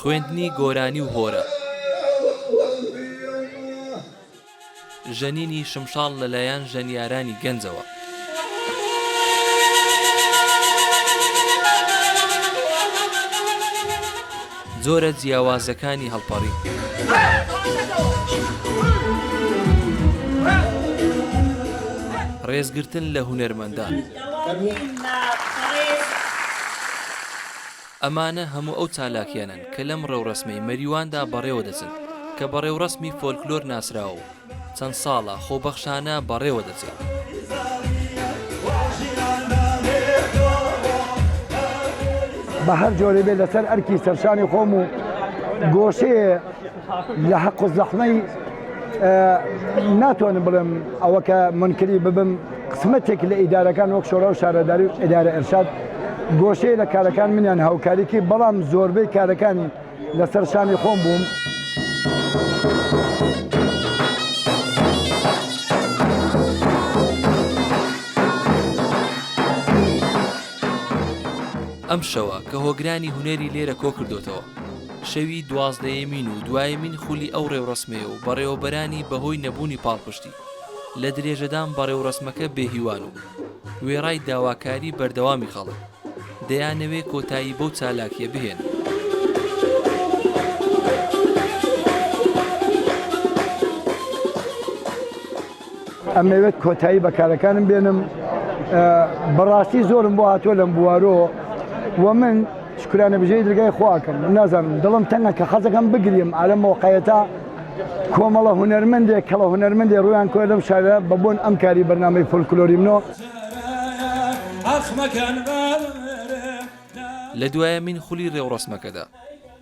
خوێندنی گۆرانی و هۆرە ژەنینی شمشاڵ لەلایەن ژەنیارانی گەنجەوە. جۆرە جیاوازەکانی هەڵپەڕین. ڕێزگرتن لە هونەرمەندان. ئەمانە هەموو ئەو چالاکیانەن کە لەم ڕێوڕەسمەی مەریواندا بەڕێوەدەچن، کە بە ڕێوڕەسمی فۆلکلۆر ناسراوە و چەند ساڵە خۆبەخشانە بەڕێوە دەچێت. بە هەر جۆرێ بێت لەسەر ئەرکی سەرشانی خۆم و گۆشەیە لە حەق و زەحمەی ناتوانم بڵێم ئەوە کە منکری ببم قسمەتێک لە ئیدارەکان وەک شۆرا و شارەداری و ئیدارە ئەرشاد گۆشەیە لە کارەکان منیان هاوکاریکی بەڵام زۆربەی کارەکانی لەسەر شانی خۆم بووم. ئەم شەوە کە هۆگرانی هونەری لێرە کۆکردۆتەوە شەوی دوازدەیەمین و دوایەمین خولی ئەو ڕێوڕسمەیە و بەڕێوەبەرانی بەهۆی نەبوونی پاڵپشتی لە درێژەدان بەڕێوڕسمەکە بێهیوان و وێڕای داواکاری بەردەوامی خەڵک دەیانەوێ کۆتایی بەو چالاکیە بهێنن. ئەمەوێت کۆتایی بە کارەکانم بێنم. بەڕاستی زۆرم بۆ هاتووە لەم بوارۆ و من شکرانە بژێی درگای خواکەم نازانم دڵم تەنە کە حەزەکەم بگریم ئالە مۆقعەتە کۆمەڵە هونەرمەندێک کەڵە هونەرمەندێ ڕویان کۆ لەم شارە بە بۆن ئەم کاری بەرنامەی فۆلکلۆریمنۆ لە دوایەمین خولی رێوڕەسمەکەدا،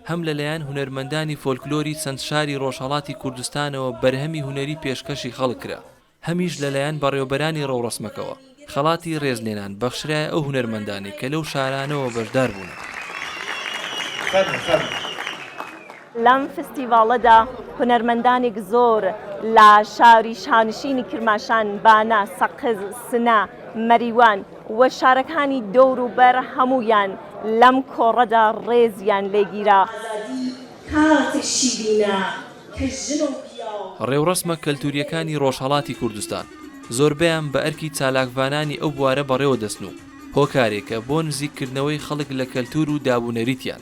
هەم لە لایەن هونەرمەندانی فۆلکلۆری چەند شاری رۆژهەڵاتی کوردستانەوە بەرهەمی هونەری پێشکەشی خەڵک کرا، هەمیش لە لایەن بەڕێوەبەرانی رێوڕەسمەکەوە خەڵاتی رێزلێنان بەخشرایە ئەو هونەرمەندانەی کە لەو شارانەوە بەشدار بوونە. لەم فستیڤاڵەدا هونەرمەندانێک زۆر لە شاری شانشینی کرماشان، بانە، سەقز، سنە، مەریوان و شارەکانی دەوروبەر هەموویان لەم کۆڕەدا ڕێزیان لێگیرا. ئازادی کاتێ شیرینە کە ژن و پیاو. ڕێوڕەسمە کەلتورییەکانی ڕۆژهەڵاتی کوردستان زۆربەیان بە ئەرکی چالاکڤانانی ئەو بوارە بەڕێوە دەچن و هۆکارێکە بۆ نزیک کردنەوەی خەڵک لە کەلتور و داب و نەریتیان.